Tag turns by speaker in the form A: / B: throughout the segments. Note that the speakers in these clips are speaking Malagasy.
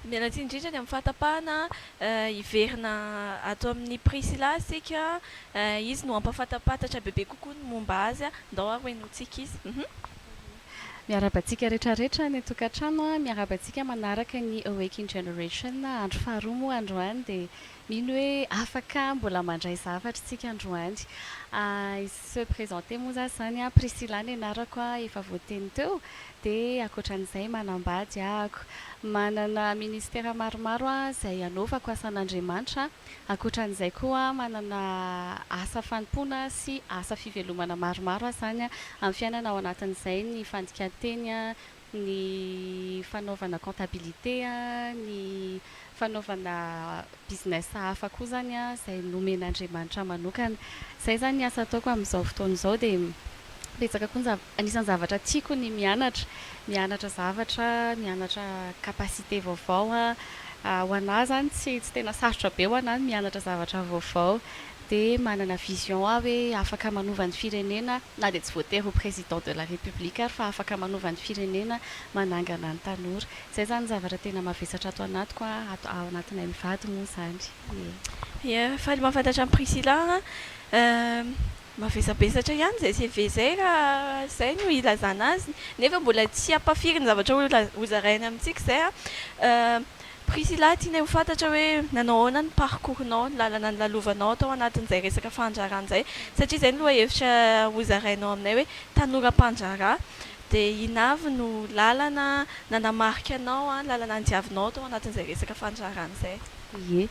A: Miala tsiny indrindra ny amin'ny fahatapahana. Hiverina ato amin'i Priscilla isika. Izy no hampahafantam-pantatra bebe kokoa ny momba azy. Ndao ary henointsika izy. Miarahaba antsika
B: rehetra rehetra any an-tokantrano. Miarahaba antsika manaraka ny Awaken Generation. Andro faharoa moa androany dia Mino hoe afaka mbola mandray zavatra isika androany. Hisy se présenter moa za zany a. Priscilla ny anarako a, efa voateny teo. Dia ankoatran'izay manambady ahako. Manana ministera maromaro aho izay anaovako asan'Andriamanitra. Ankoatran'izay koa manana asa fanompoana sy asa fivelomana maromaro aho zany amin'ny fiainana ao anatin'izay ny fandikan-teny, ny fanaovana comptabilité, ny fanaovana business hafa koa izany izay nomen'Andriamanitra manokana. Izay izany ny asa ataoko amin'izao fotoana izao dia betsaka koa ny zavatra, anisan'ny zavatra tiako ny mianatra, mianatra zavatra, mianatra capacité vaovao, ho anà izany tsy tena sarotra be ho anà ny mianatra zavatra vaovao dia manana vision aho hoe afaka manova ny firenena na dia tsy voatery ho président de la république ary fa afaka manova ny firenena, manangana ny tanora. Izay izany ny zavatra tena mavesatra ato anatiko an, ato ao anatinay mivady moa izany e. Ia,
A: faly mahafantatra an'i Priscilla an, mavesabesatra ihany izay CV izay raha izay no ilazana azy nefa mbola tsy hampafiry ny zavatra ho zarainy amintsika izay an. Priscilla, tianay ho fantatra hoe nanao ahoana ny parcours-nao, ny lalana nilalovanao tao anatin'izay resaka fandraharahana izay, satria izay no lohahevitra hozarainao aminay hoe tanora mpandraharaha, dia inona avy no lalana nanamarika anao, lalana nodiavinao tao anatin'izay resaka fandraharahana izay? Ie.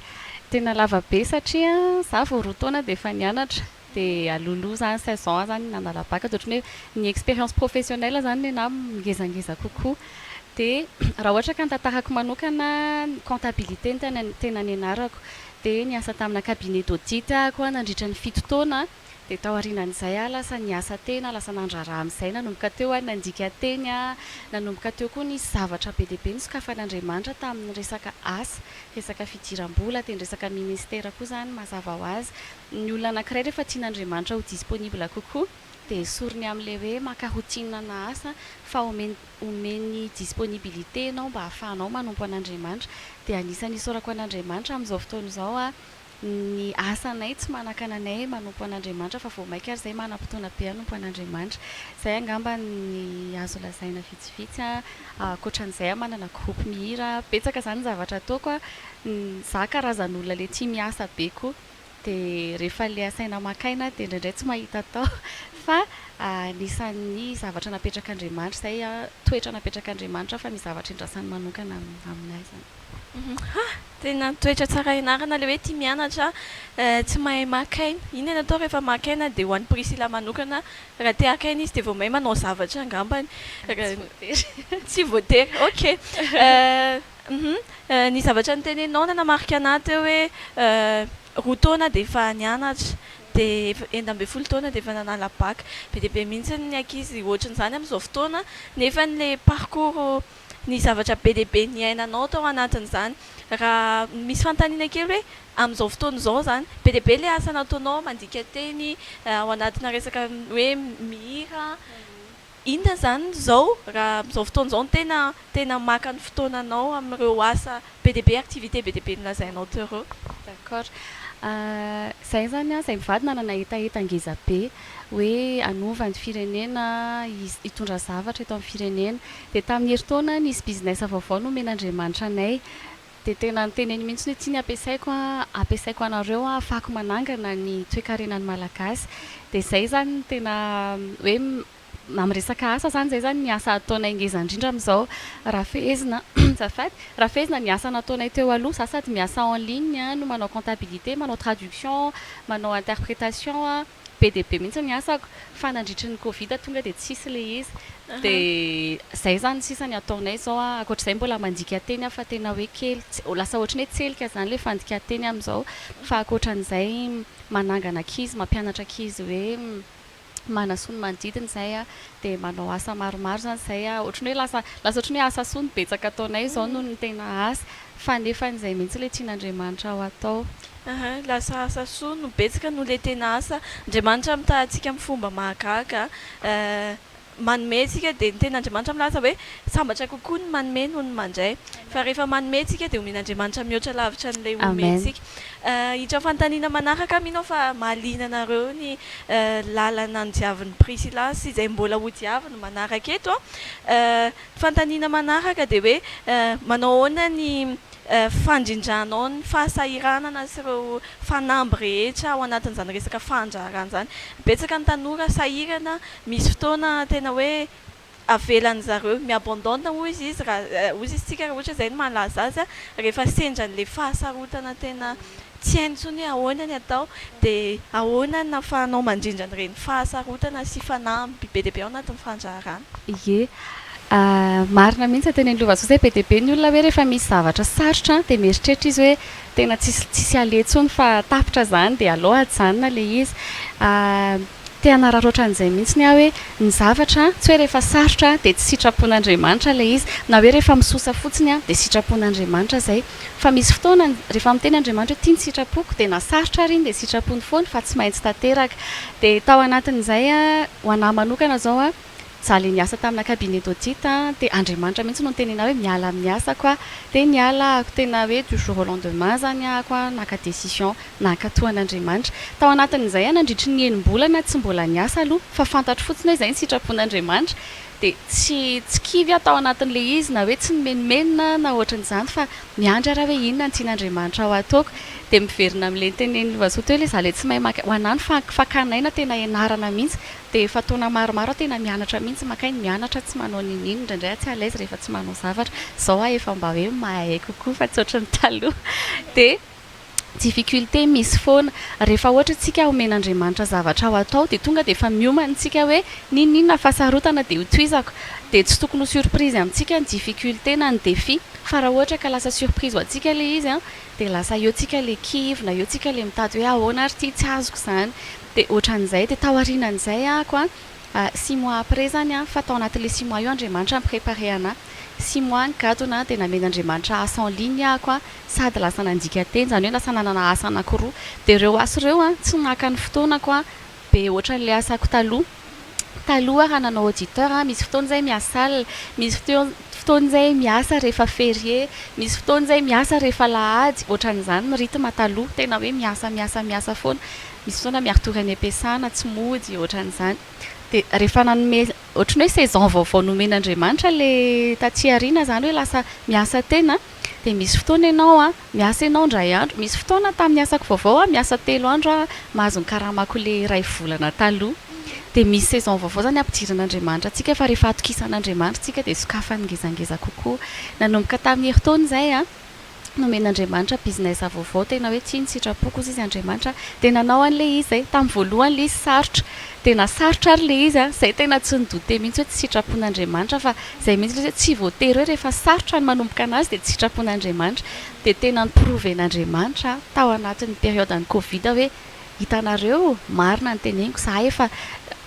B: Tena lava be satria izaho vao roa taona dia efa nianatra, dia alohaloha izany seize ans izany nanala bac dia ohatran'ny hoe ny expérience professionnelle izany nenahy ngezangeza kokoa dia raha ohatra ka ny tantarako manokana ny comptabilité no tena nianarako dia niasa tamina cabinet d'audit aho nandritra ny fito taona dia tao aorianan'izay aho lasa niasa tena lasa nandrara amin'izay nanomboka teo aho nandika teny aho nanomboka teo koa nisy zavatra be dia be nosokafan'Andriamanitra tamin'ny resaka asa resaka fidiram-bola dia ny resaka ministera koa izany mazava ho azy Ny olona anankiray rehefa tian'Andriamanitra ho disponible kokoa dia esoriny amin'ilay hoe maka ho tianina na asa fa omeny omeny disponibilité ianao mba hahafahanao manompo an'Andriamanitra dia anisan'ny isaorako an'Andriamanitra amin'izao fotoana izao aho ny asanay tsy manakana anay manompo an'Andriamanitra fa vao maika ary izay manam-potoana be hanompo an'Andriamanitra izay angamba ny azo lazaina vitsivitsy ankoatran'izay aho manana groupe mihira betsaka izany ny zavatra ataoko aho za karazan'olona le tia miasa be koa Dia rehefa le asaina maka aina aho dia indraindray tsy mahita atao fa anisan'ny zavatra napetrak'Andriamanitra izay an, toetra napetrak'Andriamanitra fa ny zavatra iandrasany manokana amin'ny ahy izany. Ha!
A: Tena toetra tsara ianarana ilay hoe tia mianatra, tsy mahay maka aina. Inona no atao rehefa maka aina dia ho an'i Priscilla manokana raha te haka aina izy dia vao mahay manao zavatra angambany. Tsy voatery. Tsy voatery, ok. Hum ny zavatra noteneninao nanamarika anah teo hoe roa taona dia efa nianatra dia efa enina ambin'ny folo taona dia efa nanala bac be dia be mihitsy ny ankizy ohatrin'izany amin'izao fotoana nefa ny le parcours ny zavatra be dia be niainanao tao anatin'izany raha misy fanontaniana kely hoe amin'izao fotoana izao izany be dia be le asa nataonao mandika teny ao anatina resaka hoe mihira Inona izany izao raha amin'izao fotoana izao no tena tena maka ny fotoananao amin'ireo asa be dia be, activités be dia be nolazainao teo ireo? D'accord.
B: Izahay izany an, izahay mivady nanana hetaheta ngeza be hoe hanova ny firenena, hitondra zavatra eto amin'ny firenena. Dia tamin'ny herintaona nisy business vaovao nomen'Andriamanitra anay. Dia tena niteneny mihitsy hoe ity ny ampiasaiko an, ampiasaiko anareo an, afahako manangana ny toekarenan'ny Malagasy. Dia izay izany no tena hoe amin'ny resaka asa izany, izay izany ny asa ataonay ngeza indrindra amin'izao. Raha fehezina, azafady, raha fehezina ny asa nataonay teo aloha, izaho sady miasa en ligne no manao comptabilité, manao traduction, manao interprétation. be dia be mihitsy ny asako fa nandritry ny covid tonga dia tsisy ilay izy dia izay izany sisa ny ataonay izao an, ankoatr'izay mbola mandika teny aho fa tena hoe kely, lasa ohatran'ny hoe tselika izany ilay fandika teny amin'izao fa ankoatran'izay manangana ankizy, mampianatra ankizy hoe manasoa ny manodidina izay an, dia manao asa maromaro izany izay an, ohatran'ny hoe lasa, lasa ohatran'ny hoe asa soa no betsaka ataonay izao noho ny tena asa. Fa nefa izay mihitsy ilay tian'Andriamanitra ho atao. Aha, lasa
A: asa soa no betsaka noho ilay tena asa. Andriamanitra mitaha antsika amin'ny fomba mahagaga. Manome isika dia ny tenin'Andriamanitra milaza hoe sambatra kokoa ny manome noho ny mandray. Fa rehefa manome isika dia omen'Andriamanitra mihoatra lavitra an'ilay omentsika. Hiditra amin'ny fanontaniana manaraka aho, mino aho fa mahaliana anareo ny lalana nodiavin'i Priscilla sy izay mbola hodiaviny manaraka eto. Fanontaniana manaraka dia hoe manao ahoana ny fandrindranao ny fahasahiranana sy ireo fanamby rehetra ao anatin'izany resaka fandraharahana izany. Betsaka ny tanora sahirana, misy fotoana tena hoe avelan'ny zareo mi-abandonne hoy izy izy raha hoy izy isika raha ohatra izay no mahalaza azy rehefa sendran'ilay fahasarotana tena Tsy hainy intsony hoe ahoana ny atao, dia ahoana ny nahafahanao mandrindra an'ireny fahasarotana sy fanamby be dia be ao anatin'ny fandraharana? Ie.
B: Marina mihitsy ny tenin'i Lovasoa izay, be dia be ny olona hoe rehefa misy zavatra sarotra dia mieritreritra izy hoe tena tsisy tsisy aleha intsony fa tapitra izany dia aleo ajanona ilay izy. Te hanararaotra an'izay mihitsy aho hoe ny zavatra, tsy hoe rehefa sarotra dia tsy sitrapon'Andriamanitra ilay izy, na hoe rehefa misosa fotsiny dia sitrapon'Andriamanitra izay. Fa misy fotoana rehefa miteny Andriamanitra hoe ity ny sitrapoko dia na sarotra ary iny dia sitrapony foana fa tsy maintsy tanteraka. Dia tao anatin'izay, ho an'ahy manokana izao, Za le niasa tamina cabinet d'audit an, de Andriamanitra mihitsy no niteny anah hoe miala amin'ny asako aho, de niala ahako tena hoe du jour au lendemain zany ahako an, naka decision nankatoa an'Andriamanitra. Tao anatin'izay an nandritry ny enim-bolana tsy mbola niasa aloha fa fantatro fotsiny hoe izay ny sitrapon'Andriamanitra, de tsy tsy kivy aho tao anatin'le izy na hoe tsy nimenomenona na ohatran'izany fa miandry ara hoe inona ny tian'Andriamanitra ho ataoko, de miverina amle nitenen'i Lovasoa teo le za le tsy mahay maka ho anah ny fa fakana aina tena ianarana mihitsy Dia efa taona maromaro aho tena mianatra mihitsy, makay ny mianatra, tsy manao nini, indraindray aho tsy à l'aise rehefa tsy manao zavatra, izao aho efa mba hoe mahay kokoa fa tsy ohatry ny taloha, dia difficultés misy foana, rehefa ohatra isika omen'Andriamanitra zavatra ho atao dia tonga dia efa miomana isika hoe ninininona fa sarotana dia ho tohizako, dia tsy tokony ho surprise amintsika ny difficultés na ny défis, fa raha ohatra ka lasa surprise ho antsika ilay izy dia lasa eo isika ilay kivy na eo isika ilay mitady hoe ahoana ary ity tsy azoko izany. Dia ohatran'izay, dia taorinan'izay aho ko a, six mois après zany a, fa tao anatin'ilay six mois io Andriamanitra mi-preparer anah, six mois nigadona a, dia namen'Andriamanitra asa en ligne aho ko a, sady lasa nandika teny, izany hoe lasa nanana asa anakiroa, dia ireo asa ireo a, tsy naka ny fotoanako a, be ohatran'ilay asako taloha. taloha raha nanao auditeur aho misy fotoana izay miasal, misy fotoana izay miasa rehefa ferie, misy fotoana izay miasa rehefa alahady, ohatran'izany ny rythme taloha, tena hoe miasa miasa miasa foana, misy fotoana miaritory any am-piasana, tsy mody, ohatran'izany. Dia rehefa nanome, ohatran'ny hoe saison vaovao nomen'Andriamanitra ilay taty aoriana izany hoe lasa miasa tena, dia misy fotoana ianao an, Miasa ianao indray andro. Misy fotoana tamin'ny asako vaovao aho miasa telo andro aho mahazo ny karamako le iray volana taloha. Dia misy saison vaovao izany ampidirin'Andriamanitra antsika fa rehefa atokisan'Andriamanitra isika dia sokafany ngezangeza kokoa. Nanomboka tamin'ny herintaona izay aho nomen'Andriamanitra business vaovao tena hoe tiany sitrapoko kosa izy Andriamanitra dia nanao an'ilay izy izay. Tamin'ny voalohany ilay izy sarotra. Tena sarotra ary ilay izy an! Zay tena tsy ni-douter mihitsy hoe tsy sitrapon'Andriamanitra fa zay mihitsy ilay izy hoe tsy voatery hoe rehefa sarotra ny manomboka anazy dia tsy sitrapon'Andriamanitra. Dia tena ni-prouven'Andriamanitra tao anatin'ny période-n'ny covid hoe hitanareo marina ny teneniko za efa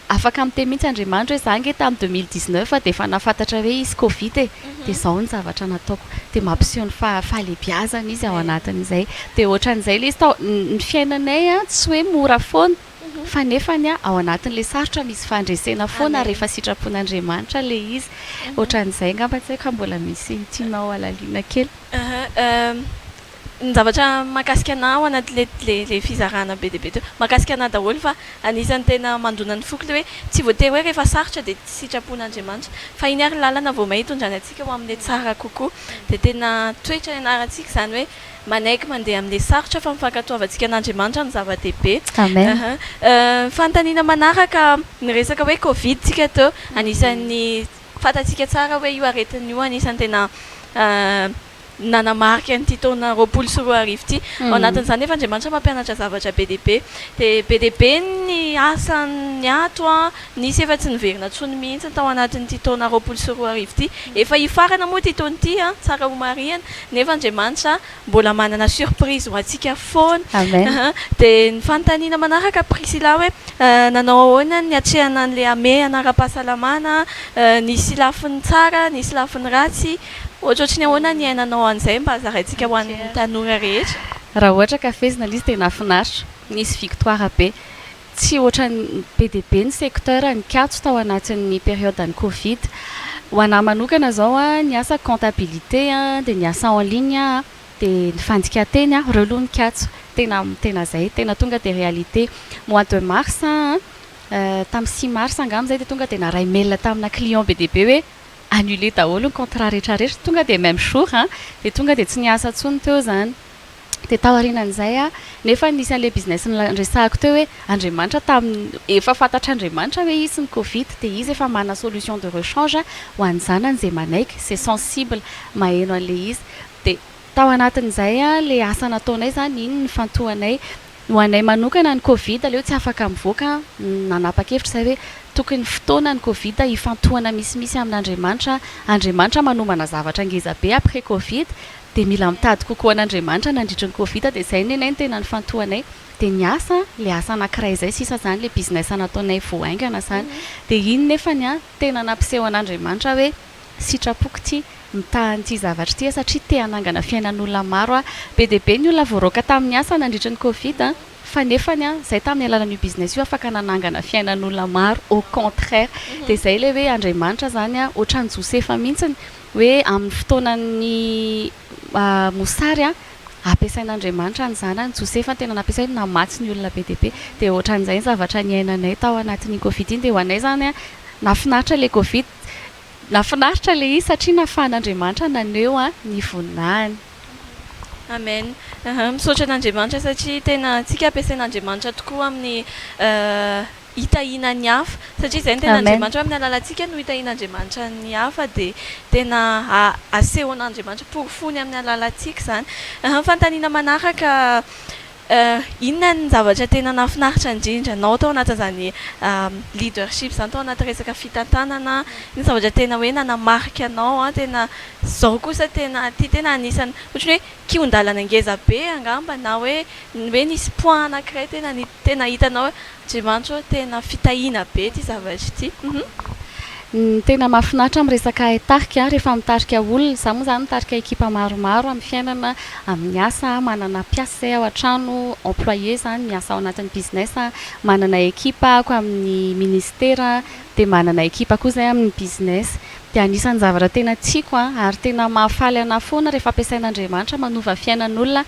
B: afaka miteny mihitsy Andriamanitra hoe za ange tamin'ny deux mille dix neuf dia efa nahafantatra hoe hisy covid e! dia zao ny zavatra nataoko. Dia mampiseho ny fahalebiazany izy ao anatin'izay. Dia ohatran'izay ilay izy tao. Ny fiainanay an tsy hoe mora foana. Fa nefany an, ao anatin'ilay sarotra misy fandresena foana rehefa sitrapon'Andriamanitra ilay izy. Ohatran'izay angamba tsy haiko raha mbola misy tianao halalina kely.
A: Ny zavatra mahakasika anah ao anatin'ilay fizarana be dia be teo, mahakasika anah daholo fa anisan'ny tena mandona ny foko ilay hoe tsy voatery hoe rehefa sarotra dia tsy sitrapon'Andriamanitra fa iny ary lalana vao may hitondrany antsika ho amin'ilay tsara kokoa. Dia tena toetra ianarantsika izany hoe Manaiky mandeha amin'ilay sarotra fa ny fankatoavantsika an'Andriamanitra no zava-dehibe. Amen. Aha. Ny fanontaniana manaraka, niresaka hoe covid tsika teo, anisan'ny fantatsika tsara hoe io aretina io anisan'ny tena nanamarika an'ity taona roapolo sy roa arivo ity. Ao anatin'izany nefa Andriamanitra mampianatra zavatra be dia be. Dia be dia be ny asan'ny ato an. Nisy efa tsy niverina tsony mihitsy tao anatin'ity taona roapolo sy roa arivo ity. Efa hifarana moa ity taona ity, tsara homarihana, nefa Andriamanitra mbola manana surprise ho antsika foana. Amen. Dia ny fanontaniana manaraka Priscilla hoe nanao ahoana ny niatrehana an'ilay hamehana ara-pahasalamana, nisy lafiny tsara, nisy lafiny ratsy, ohatrohatry ny ahoana ny niainanao an'izay mba zaraintsika ho an'ny tanora rehetra.
B: Raha
A: ohatra
B: ka fehezina ilay izy dia
A: nahafinaritra,
B: nisy victoire
A: be.
B: Tsy ohatran'ny be dia be ny secteur nikatso tao anatin'ny période-n'ny covid. Ho an'ahy manokana izao an, ny asako comptabilité an, dia ny asa en ligne an, dia ny fandikan-teny an, ireo aloha nikatso. Tena tena izay, tena tonga dia réalité. Mois de mars an, tamin'ny six mars angamba izay dia tonga dia naharay mail tamina client be dia be hoe annuler daholo ny contrat rehetra rehetra, tonga dia même jour an, dia tonga dia tsy niasa intsony teo izany. Dia taorianan'izay aho, nefa nisy an'ilay business niresahako teo hoe Andriamanitra tamin'ny, efa fantatr'Andriamanitra hoe hisy ny covid dia izy efa manana solution de rechange ho an'ny zanany izay manaiky, izay sensible, maheno an'ilay izy. Dia tao anatin'izay ilay asa nataonay izany, iny nifantohanay. Ho anay manokana ny covid aleo tsy afaka mivoaka an, nanapakevitra izahay hoe tokony fotoana ny covid hifantohana misimisy amin'Andriamanitra, Andriamanitra manomana zavatra ngeza be après covid dia mila mitady kokoa an'Andriamanitra nandritry ny covid dia izay nenay no tena nifantohanay dia ny asa le asa anakiray izay sisa izany le business nataonay vao haingana izany dia iny nefany an tena nampiseho an'Andriamanitra hoe Sitrapoko ity mitaha an'ity zavatra ity aho satria te hanangana fiainan'olona maro aho. Be dia be ny olona voaroaka tamin'ny asa nandritry ny covid fa nefany aho izay tamin'ny alalan'io business io afaka nanangana fiainan'olona maro au contraire. Dia izay ilay hoe Andriamanitra izany ohatran'i Josefa mihitsy hoe amin'ny fotoanan'ny mosary ampiasain'Andriamanitra ny zanany. Josefa no tena nampiasainy namatsy ny olona be dia be. Dia ohatran'izay ny zavatra niainanay tao anatin'iny covid iny dia ho anay izany nahafinaritra ilay covid Nafinaritra le izy satria nafahan'Andriamanitra naneho ny voninahiny.
A: Amen misaotra an'Andriamanitra satria tena tsika ampiasain'Andriamanitra tokoa amin'ny hitahiana ny hafa satria izay no tena Andriamanitra amin'ny alalantsika no hitahian'Andriamanitra ny hafa dia tena asehon'Andriamanitra porofoiny amin'ny alalantsika izany fanontaniana manaraka Eh, inona ny zavatra tena nahafinaritra indrindra anao tao anatin'izany leadership izany, tao anaty resaka fitantanana, inona zavatra tena hoe nanamarika anao an, tena izao kosa tena ity tena anisan'ny ohatry ny hoe kihon-dalana ngeza be angamba na hoe hoe nisy point anankiray tena ny tena hitanao hoe. Jimanjo, tena fitahiana be ity zavatra ity. Ny
B: tena mahafinaritra amin'ny resaka tarika, rehefa mitarika olona, izaho moa izany mitarika ekipa maromaro amin'ny fiainana, amin'ny asa, manana mpiasa izay ao an-trano, employé izany, miasa ao anatin'ny business, manana ekipa ako amin'ny ministera, dia manana ekipa koa izahay amin'ny business. dia anisan'ny zavatra tena tiako an, ary tena mahafaly anah foana rehefa ampiasain'Andriamanitra manova fiainan'olona,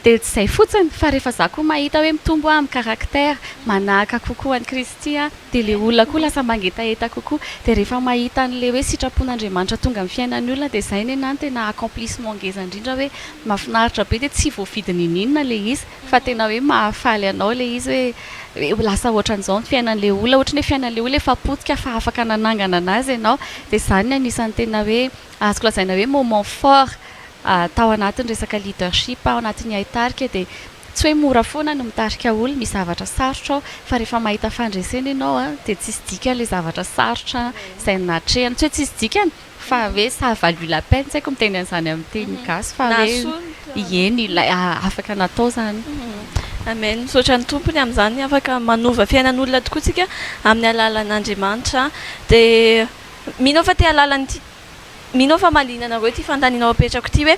B: dia tsy izay fotsiny fa rehefa za koa mahita hoe mitombo an, ny caractère, manahaka kokoa an'i Kristy an, dia ilay olona koa lasa mangetaheta kokoa, dia rehefa mahita an'ilay hoe sitrapon'Andriamanitra tonga amin'ny fiainan'ny olona dia izay nenah no tena accomplissement ngeza indrindra hoe mahafinaritra be, dia tsy voavidy niniana ilay izy. Fa tena hoe mahafaly anao ilay izy hoe hoe lasa ohatran'izao ny fiainan'ilay olona, ohatry ny hoe fiainan'ilay olona efa potika fa afaka nanangana an'azy ianao. Dia izany ny anisan'ny tena hoe azoko lazaina hoe moment fort tao anatin'ny resaka leadership aho, ao anatin'ny haitarika dia tsy hoe mora foana ny mitarika olona, misy zavatra sarotra ao fa rehefa mahita fandresena ianao dia tsisy dikany ilay zavatra sarotra izay nahatrehana, tsy hoe tsisy dikany Fa hoe ça a valu la peine, tsy haiko miteny an'izany amin'ny teny gasy fa hoe eny ilay afaka natao izany. Amen,
A: misaotra ny Tompo ny amin'izany, afaka manova fiainan'olona tokoa tsika amin'ny alalan'Andriamanitra, dia mino aho fa te halalan'ity, mino aho fa mahaliana anareo ity fanontanianao apetrako ity hoe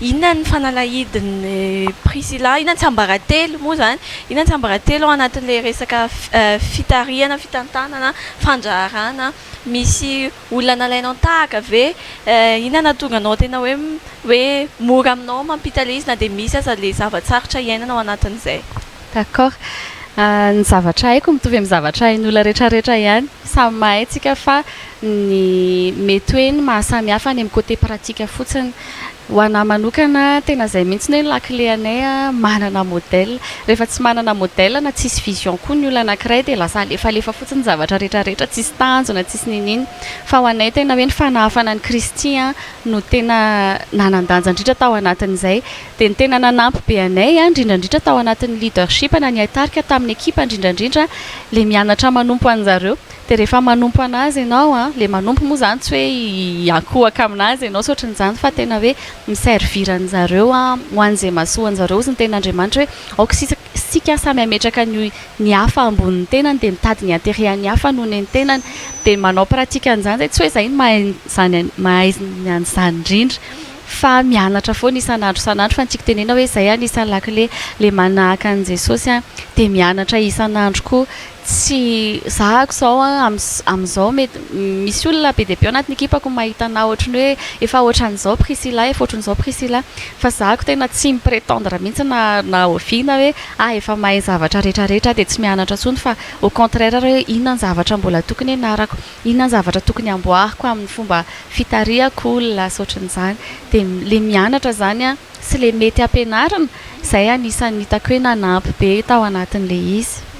A: inona ny fanalahidin'i Priscilla, inona ny tsiambaratelo moa izany, inona ny tsiambaratelo ao anatin'ilay resaka fitarihana, fitantanana, fandraharahana misy Olona nalainao tahaka ve? Eh, inona nahatonga anao tena hoe, hoe mora aminao mampita le izy na dia misy aza le zava-tsarotra iainana ao anatin'izay? D'accord.
B: Ny zavatra haiko mitovy amin'ny zavatra hain'olona retraretra ihany. Samy mahay tsika fa ny mety hoe ny maha samy hafa any amin'ny côté pratique fotsiny. Ho anah manokana tena izay mihitsy ny hoe lakile anay a, manana modèle. Rehefa tsy manana modèle na tsisy vision koa ny olona anankiray dia lasa alefalefa fotsiny ny zavatra rehetrarehetra, tsisy tanjona, tsisy niniana. Fa ho anay tena hoe ny fanahafana an'i Kristy a no tena nanan-danja indrindra tao anatin'izay. Dia ny tena nanampy be anay a, indrindraindrindra tao anatin'ny leadership na ny haitarika tamin'ny ekipa indrindraindrindra ilay mianatra manompo anjareo. Dia rehefa manompo an'azy ianao an, ilay manompo moa izany tsy hoe hiankohaka amin'azy ianao sy ohatran'izany fa tena hoe mi-servir an'zareo ho an'izay mahasoa an'zareo hozy ny tenin'Andriamanitra hoe aoka isika samy hametraka ny hafa ambonin'ny tenany dia mitady ny intérêt-n'ny hafa noho ny tenany dia manao pratique an'izany izay tsy hoe izay no mahay izany mahay an'izany indrindra fa mianatra foana isan'andro isan'andro fa ny tiako tenena hoe izay anisan'ny lakile ilay manahaka an'i Jesosy dia mianatra isan'andro koa Tsy zahako izao an, amin'izao mety misy olona be dia be ao anatin'ny ekipako no mahita anah ohatry ny hoe efa ohatran'izao Priscilla, efa ohatry ny izao Priscilla, fa zahako tena tsy mi-pretendre mihitsy na na oviana hoe ah efa mahay ny zavatra rehetra rehetra ah dia tsy mianatra intsony fa au contraire ary hoe inona ny zavatra mbola tokony hianarako, inona ny zavatra tokony hamboariko amin'ny fomba fitarihako olona sy ohatry ny izany, dia ilay mianatra izany an sy ilay mety hampianarina izay anisan'ny hitako hoe nanampy be tao anatin'ilay izy.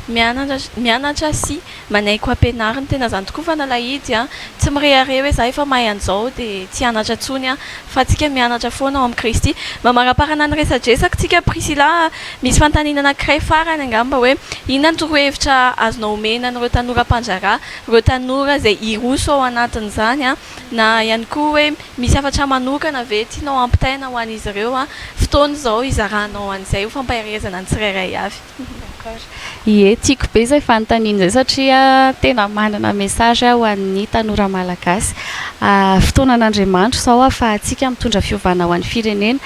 B: mianatra
A: sy manaiky ho ampianariny, tena zany tokoa fa nalahidy aho, tsy mirehareha hoe za efa mahay an'izao dia tsy hianatra intsony aho, fa antsika mianatra foana ao amin'i Kristy. Mamaramparana ny resadresaka tsika Priscilla a, misy fanontaniana anankiray farany angamba hoe inona ny torohevitra azonao omena an'ireo tanora mpandraharaha, ireo tanora izay hiroso ao anatin'izany a, na ihany koa hoe misy hafatra manokana ve tianao hampitaina ho an'izy ireo a, fotoana izao hizaranao an'izay ho fampaherezana ny tsirairay avy. D'accord.
B: Ie, tiako be izay fanontaniana izay satria tena manana message aho ho an'ny tanora malagasy. Fotoanan'Andriamanitro izao ahafahantsika mitondra fiovana ho an'ny firenena.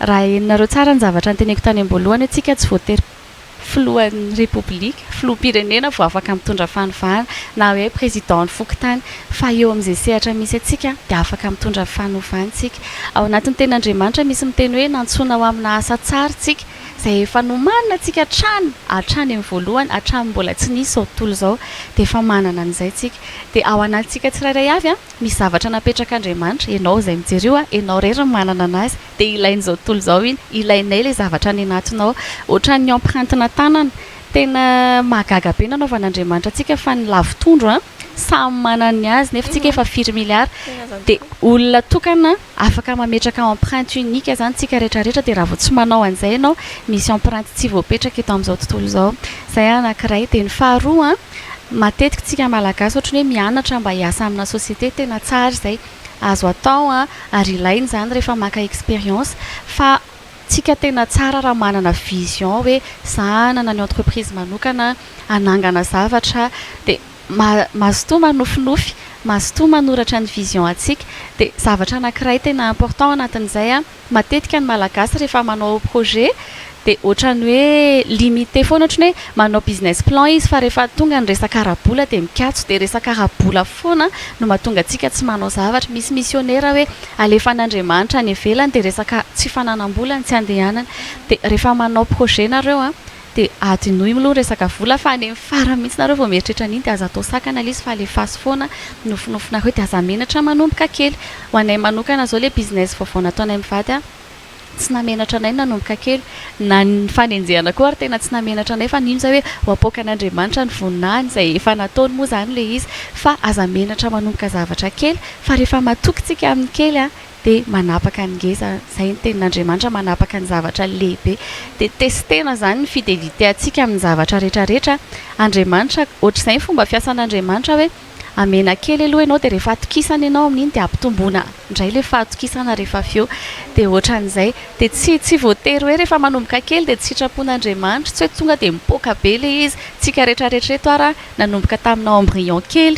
B: Raha henonareo tsara ny zavatra noteneniko tany am-boalohany hoe isika tsy voatery filohan'ny repoblika, filoham-pirenena vao afaka mitondra fanovana na hoe président ny fokontany fa eo amin'izay sehatra misy antsika dia afaka mitondra fanovana isika. Ao anatin'ny tenin'Andriamanitra misy miteny hoe nantsoina ho amina asa tsara isika. izay efa nomanina tsika hatrany hatrany amin'ny voalohany hatramin'ny mbola tsy nisy izao tontolo izao dia efa manana an'izay tsika dia ao anatintsika tsirairay avy an misy zavatra napetrak'Andriamanitra ianao izay mijery io an ianao irery no manana anazy dia ilain'izao tontolo izao iny ilainay ilay zavatra any anatinao ohatran'ny empreinte-na tanana tena mahagaga be nanaovan'Andriamanitra antsika fa ny lavo tondro an samy manana ny azy nefa tsika efa firy milliard dia olona tokana Afaka mametraka empreinte unique zany tsika rehetra rehetra de raha vao tsy manao an'izay ianao misy empreinte tsy voapetraka eto amin'izao tontolo izao. Izay anankiray. De ny faharoa an, matetika tsika malagasy ohatry ny hoe mianatra mba hiasa amina société, tena tsara izay, azo atao an, ary ilaina izany rehefa maka expérience, fa tsika tena tsara raha manana vision hoe za hanana ny entreprise manokana, hanangana zavatra, de Mazotoa manofinofy, mazotoa manoratra ny vision antsika. Dia zavatra anankiray tena important anatin'izay an, matetika ny Malagasy rehefa manao projet dia ohatran'ny hoe limite foana, ohatran'ny hoe manao business plan izy fa rehefa tonga ny resaka ara-bola dia mikatso, dia resaka ara-bola foana no mahatonga antsika tsy manao zavatra. Misy misionera hoe alefan'Andriamanitra any ivelany dia resaka tsy fananam-bola no tsy andehanany. Dia rehefa manao projet nareo an, De adinoy mlou ny resaka vola fa any amin'ny farany mihitsy nareo vao mieritreritra an'iny de aza atao sakana le izy fa alefaso foana ny nofinofinareo de aza menatra manomboka kely. Ho anay manokana zao le business vaovao nataonay mivady a tsy namenatra anay ny nanomboka kely na ny fanenjehana koa ary tena tsy namenatra anay fa nino zay hoe ho apoakan'Andriamanitra ny voninahiny zay efa nataony moa zany le izy fa aza menatra manomboka zavatra kely fa rehefa matoky tsika amin'ny kely a dia manapaka ny ngeza, izay ny tenin'Andriamanitra, manapaka ny zavatra lehibe. Dia testena izany ny fideliteantsika amin'ny zavatra rehetra rehetra Andriamanitra. Ohatr'izay ny fomba fiasan'Andriamanitra hoe, hamena kely aloha ianao dia rehefa atokisana ianao amin'iny dia ampitomboina indray ilay fahatokisana rehefa avy eo. Dia ohatran'izay. Dia tsy tsy voatery hoe rehefa manomboka kely dia tsy sitrapon'Andriamanitra, tsy hoe tonga dia mipoaka be ilay izy. Tsika rehetra rehetra eto ary an. Nanomboka taminao embryon kely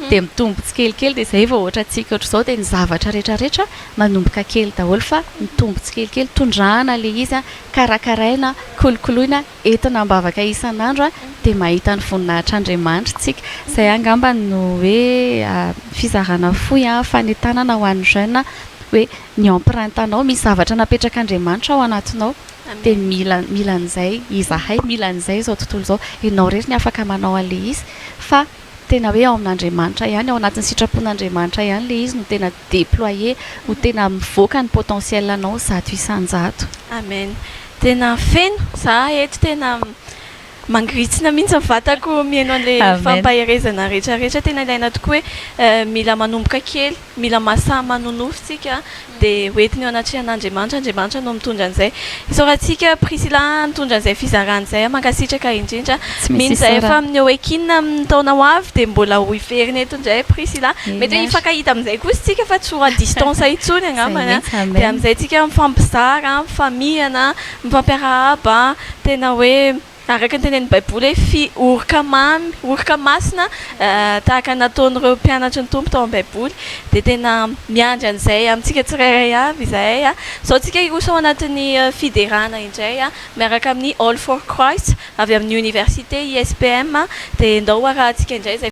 B: dia mitombo tsikelikely dia izay vao ohatra antsika ohatr'izao dia ny zavatra rehetra rehetra manomboka kely daholo fa mitombo tsikelikely tondrahana ilay izy an, karakaraina, kolokoloina, entina am-bavaka isan'andro an, dia mahita ny voninahitr'Andriamanitra isika. Izay angamba no hoe fizarana fohy an, fanentanana ho an'ny jeune hoe ny empreinte-nao, misy zavatra napetrak'Andriamanitra ao anatinao. dia mila mila an'izay izahay, mila an'izay izao tontolo izao, ianao irery no afaka manao an'ilay izy fa tena hoe ao amin'Andriamanitra ihany, ao anatin'ny sitrapon'Andriamanitra ihany ilay izy no tena déployer, no tena mivoaka ny potentiel anao zato isan-jato. Amen,
A: tena feno za eto tena Mangirintsina mihitsy ny vatako mihaino an'ilay fampaherezana rehetra rehetra. Tena ilaina tokoa hoe mila manomboka kely, mila masaha manonofy isika dia ho entiny eo anatrehan'Andriamanitra, Andriamanitra no mitondra an'izay. Isaorantsika Priscilla nitondra izay fizarana izay, mankasitraka indrindra. Mino izay fa amin'ny Oekin amin'ny taona ho avy dia mbola ho hiverina eto indray Priscilla. Mety hoe hifankahita amin'izay kosa isika fa tsy ho à distance intsony angambany dia amin'izay isika mifampizara, mifamihana. Mifampiarahaba an! Tena hoe araka ny tenenin'ny Baiboly hoe fi oroka mamy, oroka masina tahaka ny nataon'ireo mpianatry ny Tompo tao amin'ny Baiboly. Dia tena miandry an'izay amintsika tsirairay avy izahay. Izao tsika hiroso ao anatin'ny fiderana indray miaraka amin'ny All for Christ avy amin'ny Oniversite ISPM dia ndao ho arahantsika indray izay.